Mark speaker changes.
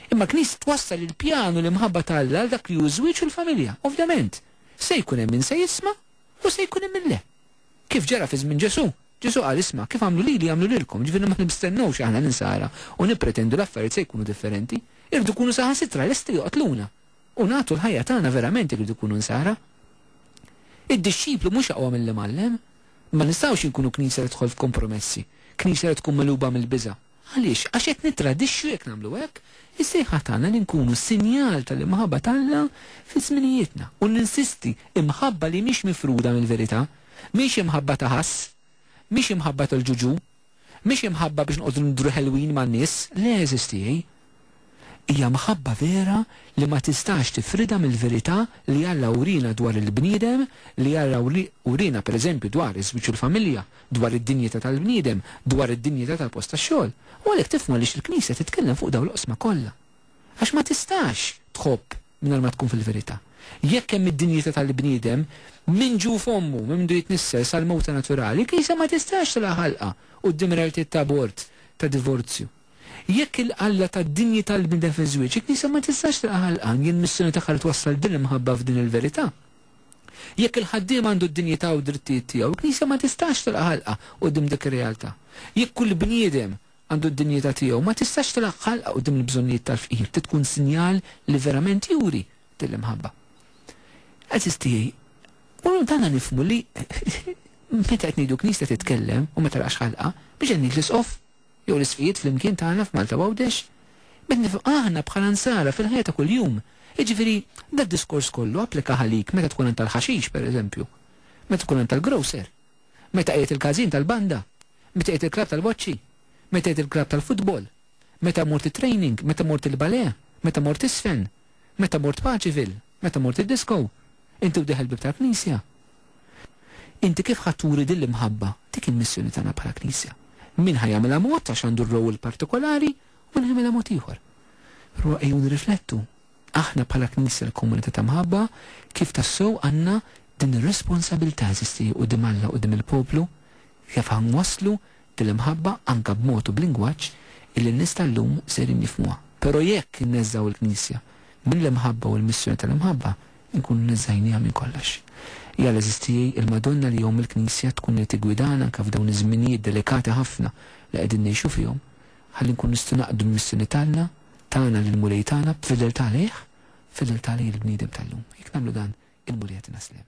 Speaker 1: Imma l-Knisja twassal il-pjan u l-imħabba ta' Alla għal dak li hu ż-żwieġ u l-familja. Ovvjament, se jkun hemm min se jisma' u se jkun hemm min le. Kif ġara fi żmien Ġesù, Ġesù qal, Isma', kif għamlu lili jagħmlu lilkom, jiġifieri ma nistennewx aħna l-insara u nippretendu l-affarijiet se jkunu differenti. Irridu nkunu saħansitra lesti joqtluna u nagħtu l-ħajja tagħna verament irridu nkunu nsara. Id-dixxiplu mhux aqwa mill-imgħallem. Ma nistgħux inkunu Knisja li tidħol f'kompromessi, Knisja li tkun megħluba mill-biża'. Għaliex? Għax qed nittradixxu jekk nagħmlu hekk is-sejħa tagħna li nkunu sinjal tal-imħabba t'Alla fi żminijietna. U ninsisti, imħabba li mhix mifruda mill-verità, mhix imħabba ta' ħass, mhix imħabba tal-ġuġù, mhix imħabba biex noqogħdu nidhru ħelwin man-nies, le għeżież tiegħi, Hija mħabba vera li ma tistax tifridha mill-verità li Alla wriena dwar il-bniedem, li Alla wriena pereżempju dwar iż-żwieġ u l-familja, dwar id-dinjità tal-bniedem, dwar id-dinjità tal-post tax-xogħol. U għalhekk tifhmu għaliex il-Knisja titkellem fuq dawn l-oqsma kollha. Għax ma tistax tħobb mingħajr ma tkun fil-verità. Jekk hemm id-dinjità tal-bniedem, minn ġuf ommu, minn mindu jitnissel, sal-mewta naturali, il-Knisja ma tistax tilgħa ħalqha quddiem realtiet ta' abort, ta' divorzju. Jekk il-Alla ta d-dinjità lill-bniedem fiż-żwieġ, il-Knisja ma tistax tilqa' ħalqan jien missjoni tagħha li twassal din l-imħabba f'din il-verità. Jekk il-ħaddiem għandu d-dinjità u d-drittijiet tiegħu, il-Knisja ma tistax tilqa' ħalqha quddiem dik ir-realtà. Jekk kull bniedem għandu d-dinjità tiegħu, ma tistax tilqa' ħalqha quddiem il-bżonnijiet tal-fqir. Trid tkun sinjal li verament juri din l-imħabba. Għażiż tiegħi, u dan nifhmu li meta qed ngħidu Knisja titkellem u ma tilqax ħalqha, mhux qed ngħid l-Isqof. jew l-isfijiet flimkien tagħna f'Malta u Għawdex, b'hekk nifhmu aħna bħala Nsara fil-ħajja ta' kuljum. Jiġifieri, dad-diskors kollu applika għalik meta tkun għand tal-ħaxix, pereżempju, meta tkun għand tal-grocer, meta qiegħed il-każin tal-banda, meta qiegħed il-klabb tal-boċċi, meta qiegħed il-klabb tal-futbol, meta mort it-training, meta mort il-bale, meta mort iż-żfen, meta mort Paceville, meta mort id-disko, inti u dieħel bib tal-knisja. Inti kif ħa turi din l-imħabba? Dik hi l-missjoni tagħna bħala Knisja. Min ħa jagħmilha mod għax għandu r-role partikolari u min ħa jagħmilha mod ieħor. Però ejjew nirriflettu, aħna bħala Knisja l-Komunità ta' Mħabba, kif tassew għandna din ir-responsabilità, għeżiż tiegħi, quddiem Alla, quddiem il-poplu? Kif ħa nwasslu Bil-imħabba anke b'mod u b'lingwaġġ illi n-nies tal-lum sejrin jifhmuha. Però jekk inneżżgħu il-Knisja mill-imħabba u l-missjoni tal-imħabba, inkunu neżżajnieha minn kollox. Ja l-għeżież tiegħi, il-Madonna li jgħomm il-Knisja tkun li tiggwidana anke f'dawn iż-żminijiet delikati ħafna li qegħdin ngħixu fihom, ħalli nkunu nistgħu naqdu l-missjoni tagħna, tagħna lill-Mulej tagħna, b'fedeltà lejh, b'fedeltà lejn il-bniedem tal-lum. Jekk nagħmlu dan, il-Mulej jagħtina sliem.